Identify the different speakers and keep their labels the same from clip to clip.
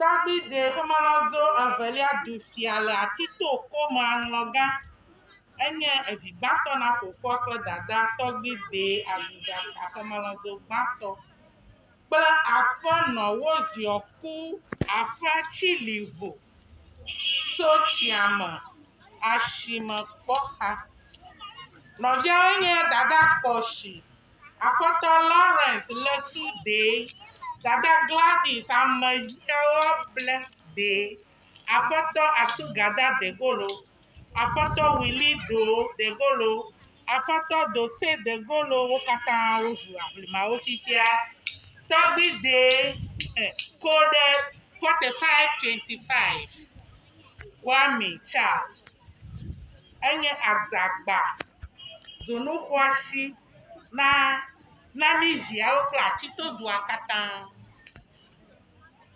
Speaker 1: Davidi xemelɔdo evelia ɖu fia le ati to kome aŋlɔ gã. Enye evi gbãtɔ na fofoa kple dadaa tɔgbi de aziza ta xemelɔdo gbãtɔ kple aƒenɔ woziɔ ku aƒea tsi li vo so tsia me asime kpɔ xa. Nɔviawo nye dada kpɔ si Aƒetɔ Lawrence le tu dee. Dada Gladys ame yiewo ble dee. Aƒetɔ Atugada Degolo, Aƒetɔ Willi Do Degolo, Aƒetɔ Dote Degolo wo katã wozu aʋlimawo fifia. Tɔgbui dee eh, Code 4525 Kwame Charles enye Adzagba. dzonu xɔasi na na mí viawo kple atitodua katã.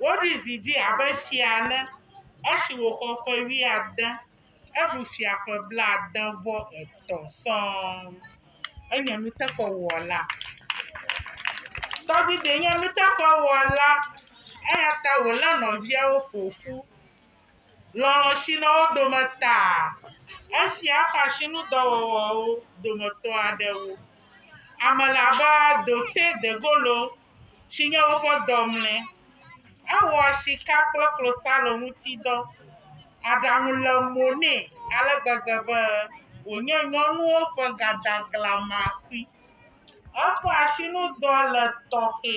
Speaker 1: Woɖui zi dzi abe fia ene esi wòxɔ ƒe wuiade. Eɖu fia ƒe blaade vɔ etɔ̃ sɔŋ. Enye nuteƒewɔla. Dawid nye nuteƒewɔla eya ta wòlé nɔviawo ƒo ƒu. Lɔlɔ̃ si le wo dome taa, efia eƒe asinudɔwɔwɔwo dometɔ aɖewo. Ame le abe Dotse Degolo si nye woƒe dɔmlɔe. Ewɔ sika kple klosalo ŋuti dɔ. Aɖaŋu le mo nɛ ale gbegbe be wònye nyɔnuwo ƒe gadaglamakui. Eƒe asinudɔ le tɔxɛ.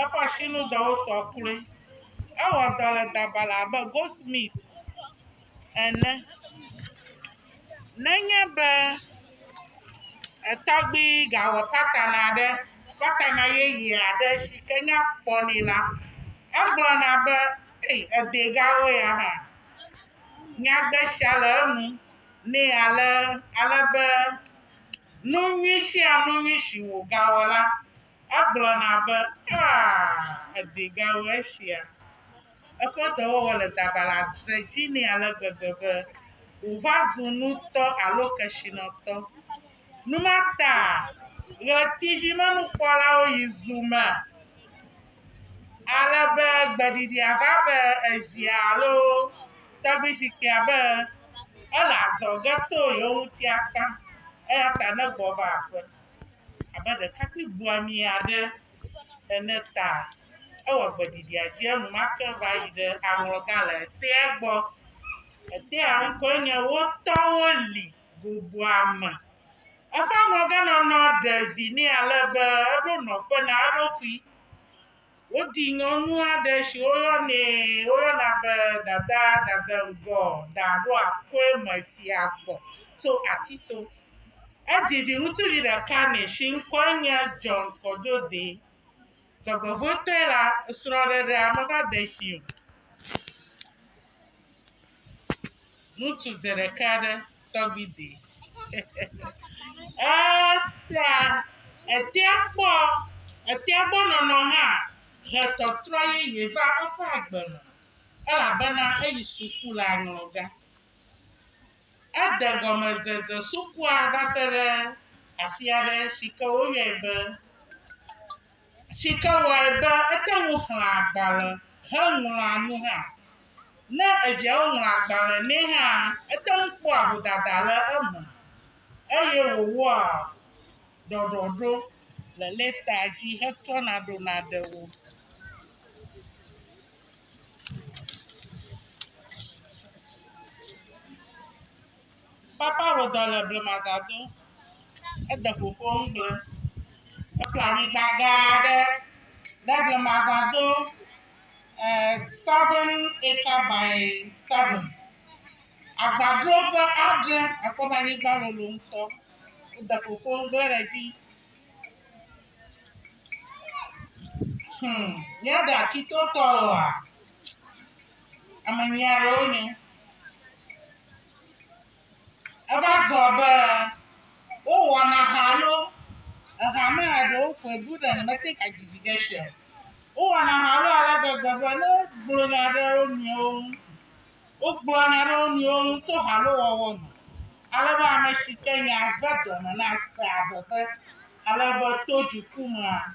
Speaker 1: Eƒe asinudɔwo sɔ kloe. Ewɔ dɔ le dabala abe goldsmith ene. Nenye be etɔgbui gawɔ patana aɖe, patana yeye aɖe si ke nya kpɔ nɛ la, egblɔna be, Ei, edɛgawo ya hã. Nyagbe sia le enu nɛ ale be nu nyui sia nu nyui si wògawɔ la, Egblɔna be, Aa, edi gawu esia! Eƒe dɔwɔwɔ le dabala dze dzi nɛ ale gbegbe be wòva zu nutɔ alo kesinɔtɔ. Nu ma taa ɣletivimenukpɔlawo yi zu me ale be gbeɖiɖia va be ezia alo tɔgbuizikpuia be ele adzɔge tso yewo ŋuti akpa, eya ta ne gbɔva aƒe. abe ɖekakpui buamɛ aɖe ene ta ewɔ gbeɖiɖia dzi enumake va yi ɖe aŋlɔga le etea gbɔ. Etea ŋkɔe nye Wo tɔwo li goboa me. Eƒe aŋlɔganɔnɔ ɖe vi nɛ ale be eɖo nɔƒe na eɖokui. Woɖi nyɔnu aɖe si woyɔnɛ woyɔna be Dada Dadeŋgɔ Daɖoakoe me fia gbɔ tso Akito. Edzi viŋutsuvi ɖeka nɛ si ŋkɔe nye John Kɔdzoɖe. Dzɔgbevɔ̃etɔe la, srɔ̃ɖeɖea meva de esi o. Ŋutsu dze ɖeka ɖe tɔgbi de. Eta etea kpɔ etea gbɔ nɔnɔ hã he tɔtrɔ yeye va eƒe agbe me elabena eyi suku le aŋlɔ ga. Ede gɔmedzedze sukua va se ɖe afi aɖe si ke woyɔe be. si ke wɔe be ete ŋu xlẽa agbalẽ heŋlɔa nu hã. Ne eviawo ŋlɔ agbalẽ nɛ hã, ete ŋu kpɔa vodada le eme eye wòwɔa ɖɔɖɔɖo le lɛtaa dzi hetrɔna ɖona ɖe wo. Papa wɔ dɔ le blemada do. Ede fofoa ŋu gble. Eƒle anyigba gã aɖe ɖe blemada do. Eh, seven acre by seven. Agbadro ƒe adre. Akpɔ be anyigba lolo ŋutɔ. Wode fofoa ŋu gble ɖe edzi. Hmm, míaɖe atitotɔ oa? Ame nyui aɖewo nye. Eva dzɔ be wowɔna ha alo eha me ya ɖewo ƒoe bu ɖe nɔ mete ŋu adidi ge sia o. Wowɔna ha alo ale gbegbe be ne wogblɔ nya ɖe wo nɔewo ŋu, wogblɔ nya ɖe wo nɔewo ŋu to ha alo wɔwɔ me. Ale be ame si ke nya ve dɔme na sea veve ale be to dziku mea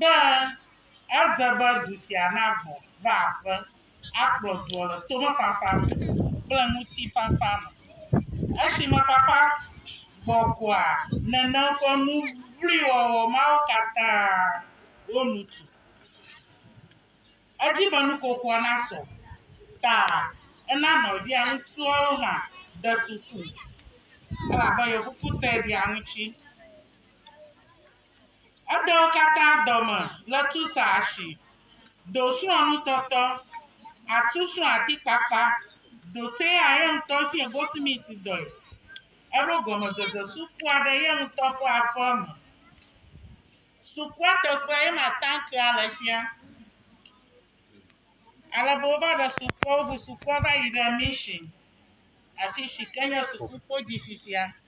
Speaker 1: be ede be du sia nagbɔ va aƒe akplɔ dua le tomefafa me kple ŋutifafa me. Esime fafa gbɔgbɔa nène ƒe nu vloe wɔwɔ mawo katã wo nu tu. Edzi be nuƒoƒoa nasɔ ta ena nɔvia ŋutsuawo hã de suku elabe yefofo tɛ ɖi aŋuti. Edewo katã dɔme le tuta ashi, do srɔ̃ nutɔtɔ, atu srɔ̃ atikpakpa, dote ya ye ŋutɔ fiɛ gosimiti dɔe. Eɖo gɔmedzedze sukua ɖe ye ŋutɔ ƒe aƒe me. Sukua teƒe ye ma tankea le fia. Ale be wova ɖe sukua, woŋu sukua va yi ɖe mission afi si ke nye sukukpo dzi fifia.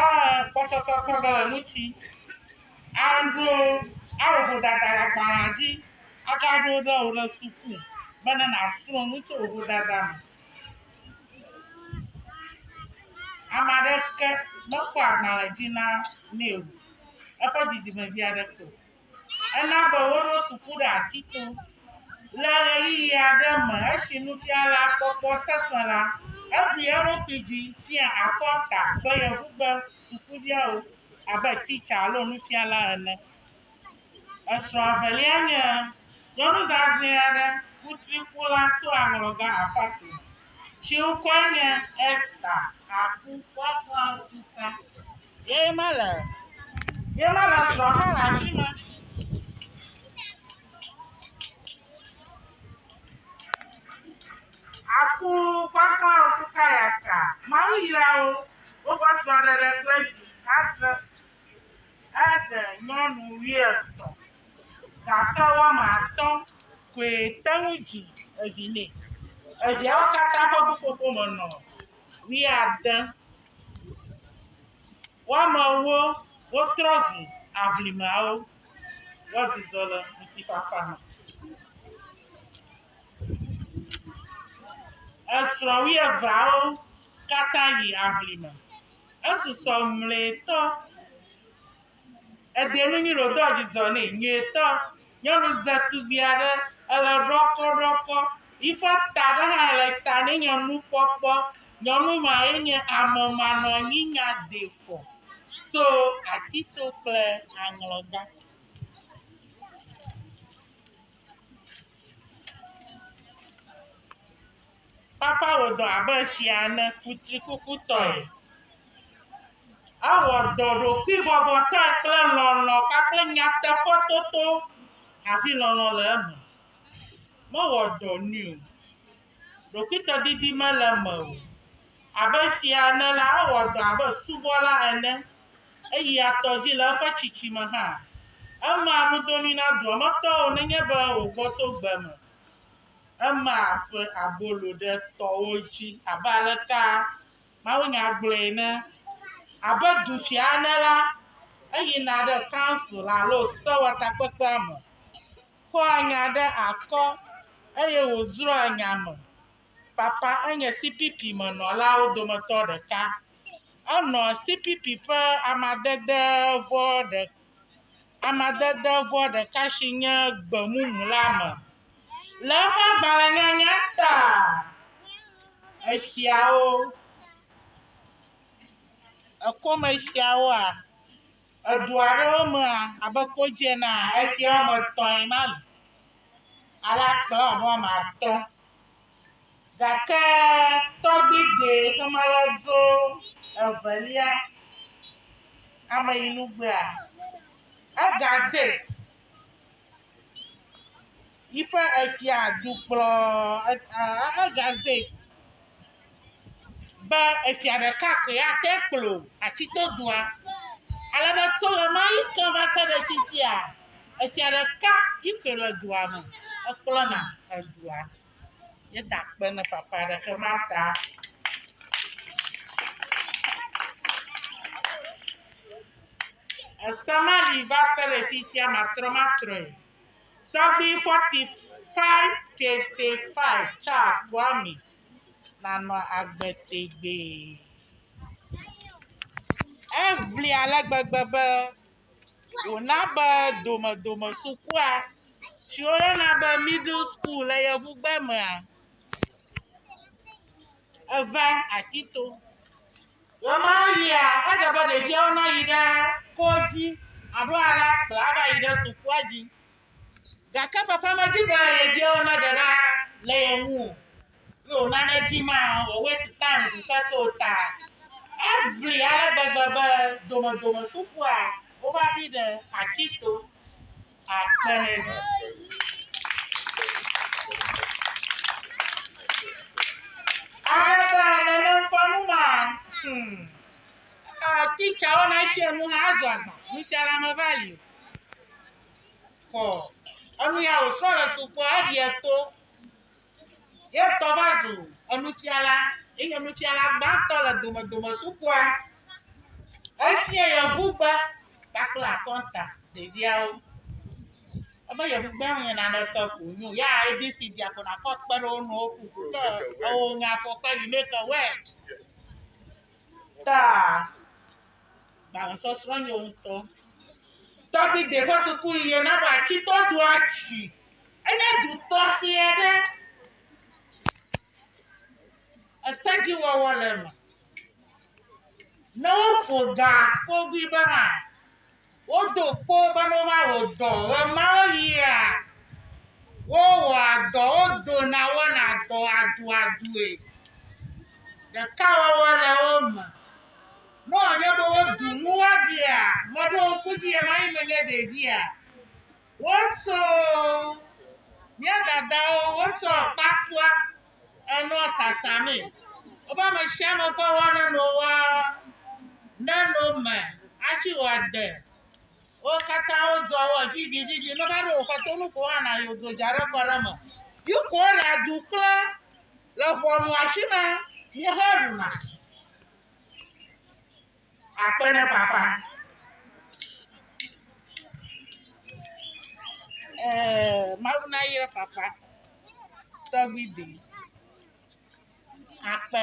Speaker 1: Aa kpɔtsɔtsɔ kɔ ge le nu ci a ɖo a wɔ vodada le agbalẽa dzi a ga ɖo ɖe wò le suku be ne na srɔ nu tso vodada me. Ame aɖeke me kpɔ agbalẽ dzi na nɛ o. Eƒe dzidzime vi aɖeke o. Ena be woɖo suku ɖe ati to. Le ɣeyiɣi aɖe me esi nufialakpɔkpɔ sesẽ la, eɖu eɖokui dzi fia akɔta be yebu be sukuviawo abe titsa alo nufiala ene. Esrɔ̃ evelia nye nyɔnu zazɛ̃ aɖe, kutrikula tso aŋlɔga Apato, si ŋkɔe nye Esther Aku. Woaklã wo ƒuta Yee ma le. Yee ma le srɔ̃ hã le afi ma. Aku gbagbawo si ka ya ka. Mawu yra wo. Woƒe srɔ̃ɖeɖe kple vi adre. Eɖe nyɔnu wuietɔ̃ gake woame atɔ̃ koe te ŋu dzi evi nɛ. Eviawo katã ƒe ƒuƒoƒo me nɔ wuiade. Woamewo wotrɔ zu aʋlimawo, woadzudzɔ le ŋutifafa me. Esrɔ̃ wuieveawo katã yi aʋlime, esusɔ mlɔetɔ. Edenu nyuiɖe wòdo dzidzɔ nɛ nyuietɔ. Nyɔnu dzetugbi aɖe ele ɖɔkɔɖɔkɔ. Yiƒe ta ɖe hã le ta nɛ nye nukpɔkpɔ. Nyɔnu ma ye nye amemanɔnyinyadefɔ tso Atito kple Aŋlɔga. Papa wɔ dɔ abe fia ene kutrikukutɔe. Ewɔ dɔ ɖokuibɔbɔtɔe kple lɔlɔ̃ kpakple nyateƒetoto hafi lɔlɔ̃ le eme. Mewɔ dɔ nyui o. Ɖokuitɔdidi mele eme o. Abe fia ene la, ewɔ dɔ abe subɔla ene. Eyia tɔ dzi le eƒe tsitsi me hã. Emea nudonui na dua me tɔwo nenye be wògbɔ tso gbe me. Ema ƒe abolo ɖe tɔwo dzi abe aleka mawunya gblɔe ene, Abe dufia ene la, eyina ɖe council alo sewɔtakpekpea me, kɔa nya ɖe akɔ, eye wòzrɔ̃a nya me. Papa enye CPP me nɔlawo dometɔ ɖeka. Enɔ CPP ƒe amadede vɔ̃ ɖe, amadedevɔ ɖeka si nye gbemumu la me. Le eƒe agbalẽnyanya ta exiawo, ekomexiawoa, edu aɖewo mea, abe kodzi enea, exia woame etɔ̃e ma li. Ale akplɔ abe woame atɔ̃ Gake tɔgbigbee xema la dzo evelia ameyinugbeea, Egazet yi ƒe efia du kplɔ Egazet be efia ɖeka koe ate ŋu akplɔ Atsitodua. Ale be tso ɣemaɣi ke va se ɖe fifia, efia ɖeka yi koe le dua me hekplɔna edua. Ye ta kpe ne papa ɖeke ma ta. Ese ma li va se le fifia matrɔ matrɔe. Tɔgbi 45 kete 5 Charles Kwame nanɔ agbe tegbee. Eŋli ale gbegbe be. wòna be domedome sukua si woyɔna be middle school le yevugbe mea, eva ati to. Ɣe ma ɣia, edze be ɖeviawo nayi ɖe kɔdzi alo alé akplɔ ava yi ɖe sukua dzi. Gake papa medi be yebiawo naɖe ɖa le ye ŋu o, ye wòna nedzi ma wòwɔe Satan ɖu ke to wo ta. Eʋli ale gbegbe be domedome sukua wova ƒi ɖe ati to. Amen. Alebe nèle ŋkɔ nu ma, hmm, ah, teacher wona fianu hã azɔ agba, nufiala meva li o. kɔ enu ya wòsrɔ̃ le suku eɖiɛ to ye ŋutɔ va zu enufiala eye nufiala gbãtɔ le domedome sukua. Efia yevugbe kpakple akɔnta ɖeviawo. Ebe yevugbe nye naneke ko wònye o. Ya ABC via ko nàkɔ kpe ɖe wo ŋu woku ko ke ewɔ nya kɔ kpe you make a word. Ta gbalẽsɔsrɔ̃ nye ŋutɔ. Dawid ƒe sukuɣie na be atsitɔ dua tsi. Enye du tɔxɛ aɖe. Esedziwɔwɔ le eme. Ne woƒo ga kpogui be hã, wodo kpo be ne wova wɔ dɔ ɣemaɣia, wowɔa dɔ, wodona, wɔna dɔ aduadue. Ɖekawɔwɔ le wo me. Nɔ anye be wodu nu woaɖea mɔɖeŋku dzi ɣemaɣi me nye ɖevia, wotsɔ mía dadawo wotsɔ kpakua enɔa tsatsãmee. Woƒe amesiame ƒe wɔnanowa neno me atsi wɔ ade. Wo katã wodzɔ wɔ vivivivi. Nova ɖo woƒe to nu ko hã na yewo dzo dza ɖe kɔ ɖe me. Yi ko le adu kple le ʋɔnu afi ma. Míehe ɖuna. Akpeɖefafa. Ɛɛ, Mawu nayra fafa tɔgbi de akpe.